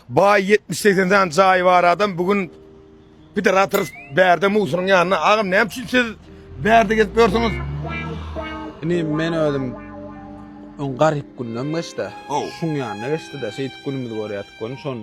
Baý ýetmiş segsen sany jaýy bar adam bu gün pidar atyr bärde musuryň ýanyna agam näme üçin siz bärde gezip ýörsiňiz. Indi men özüm öň garyp günüm geçdi. Şuň ýanyna geçdi-de şeýdip günümizi görýärdik göni şony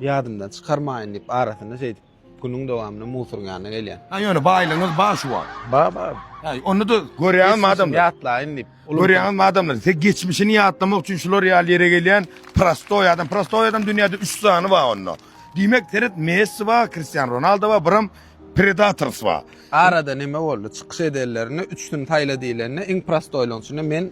ýadymdan çykarmaýyn diýip arasyna şeýdip Günüň dowamynda musuryň ýanyna gelýän. Ha ýöne baýlygyňyz bar şu wagt. Bar bar. Ha onda-da görýäňizmi adamlar? Ýatlaýyn diýip. Görýäňizmi adamlar? Siz geçmişini ýatlamak üçin şular ýaly ýere gelýän prostoý adam. Prostoý adam dünýäde 3 sany bar onda. Diýmek seret Messi bar, Kristiano Ronaldo bar, biram Predators bar. Arada näme boldy? Çykyş edenlerinde üçüsini saýla diýlende iň prostoýlaryň içinde men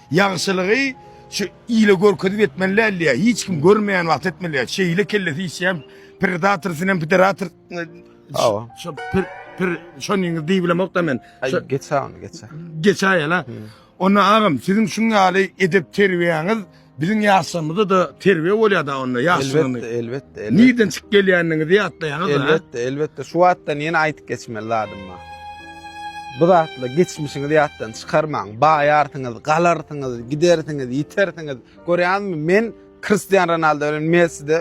Ýagşylygy şu ile görkezip etmeli däl ýa hiç kim görmeýän wagt etmeli ýa şeýle kellesi işýän predator sinem piderator Hawa. şu pir pir şonyňyz diýibilemokda men Ay, Şu- geçä onu geçä. geçäýela. Onda agam siziň şuň ýaly edep terbiýäňiz biziň ýaşlarymyzda da terbiýe bolýar-da onda Elbetde, ýaşlygyny. elbetde, elbetde. Nirden çykyp gelýändigiňizi ýatlaýaňyz da. Elbetde, elbetde. Şu wagtdan ýene aýdyp geçmeli zadym bar. Bu zatla geçmişiňizi ýatdan çykarmaň. Baýarsyňyz, galarsyňyz, gidersiňiz, ýitersiňiz. Görýäňizmi, men Kristian Ronaldo bilen Messide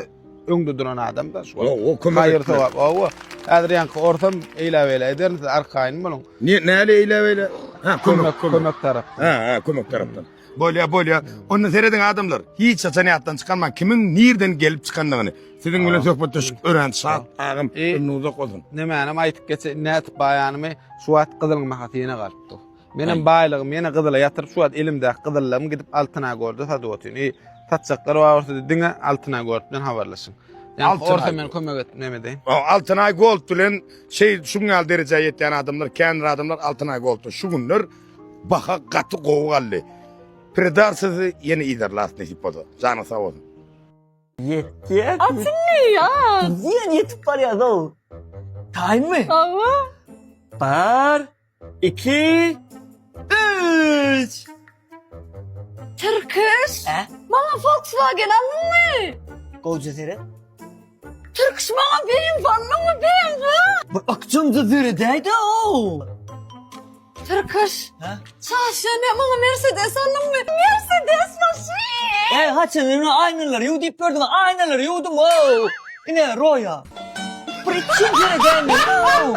öňde duran adamda şu. O, kömek Haýyr etmez. sogap. Owa. Häzir ýaňky orsam eýläbeýle ederin, siz arkaýyn boluň. Ne, näle eýläbeýle? Ha, kömek, Kömek, kömek. kömek tarapdan. Ha, ha, kömek tarapdan. Bolýa bolýa. Onda serediň adamlar. Hiç haçan ýatdan çykarmaň kimiň nirden gelip çykandygyny. Siziň bilen söhbetdeşlik örän şat agam. E, Ömrüň uzak bolsun. Nämänim aýdyp geçeýin nädip baýanymy şu wagt gyzylyň bahasy ýene galypdyr. Menem baýlygym ýene gyzyla ýatyryp şu wagt elimdäki gyzyllarym gidip altyna görde satyp otyryn. E, satjaklar bar bolsa diňe altyna görde bilen habarlaşyň. Ýa Altyna orta men kömek et näme edeýin. O, Altynay Gold bilen şey şuň ýaly derejä ýetýän adamlar, känir adamlar Altynay Gold'da şu günler Baha gaty gowy galdy. Pridar sizi ýene yzarlas nesip bolsa. Janyň sag bolsun. Ýetýär. Açynmy ýa. Diýen ýetip barýazow. Taýynmy? Hawa. Bar. Iki. Üç. Tirkiş. Maňa Volkswagen alynmy? Gowja seret. Türküş maňa beýin bolmaňmy beýin ga? Bir akjamda döredäýdä ow. Türküş. Ha? Çaşýan ýa maňa Mercedes aldyňmy? Mercedes maşyn. Ey haçan ýene aýnalary ýuw diýip gördüm, aýnalary ýuwdum ow. Ine roýa. Bir ikinji ýere gelmeli ow.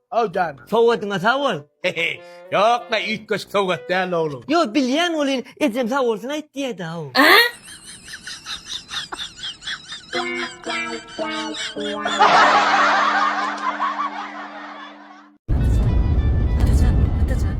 How done. Sowgatyňa sag bol. Hehe ýokla üýtgeşik sowgat däl oglum. Ýok bilýän welin ejem sag bolsun aýt diýädaw. Atajan atajan.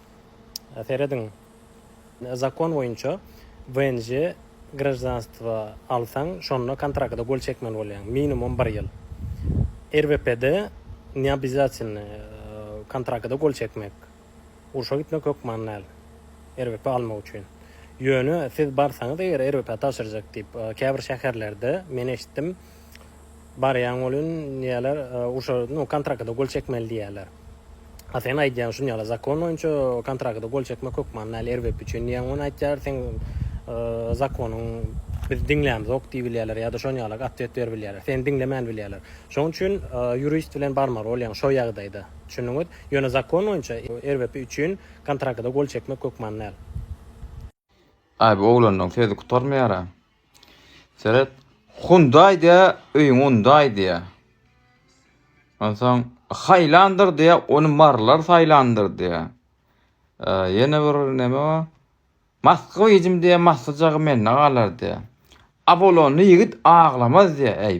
Serediň, zakon boýunça WNJ graždanstwo alsaň, şonda kontrakta gol çekmeli bolýaň, minimum bir ýyl. RVP-de neobýazatelny kontrakta gol çekmek, urşa gitmek hökman däl, RVP almak üçin. Ýöne siz barsaňyz eger RVP tabşyrjak diýip, käbir şäherlerde men eşitdim, Barýaň welin diýýärler, urşa nu kontragta gol çekmeli diýýärler. A sen aýdýaň şuny ýaly zakon boýunça kontragta gol çekmek hökman däl erbet üçin diýýäň ony aýtýar seň zakonyň biz diňlämzok diý bilýärler ýa-da şony ýaly otwet ber bilýärler seni diňlemän bilýärler şoň üçin ýurist bilen barmaly bolýaň şo ýagdaýda düşündiňiz ýöne zakon boýunça erbet üçin kontragta gol çekmek hökman däl. Abi oglanlaň sözi gutarmaýara. Seret. Hundaý diýä, öýüň undaý diýä. Onsoň haýlandyr diýä, ony marylar saýlandyr diýä. Ýene bir neme bar? Masky bijim diýä, maslyjagy mende galar diýä. Abolonly ýigit aglamaz diýä. Äý,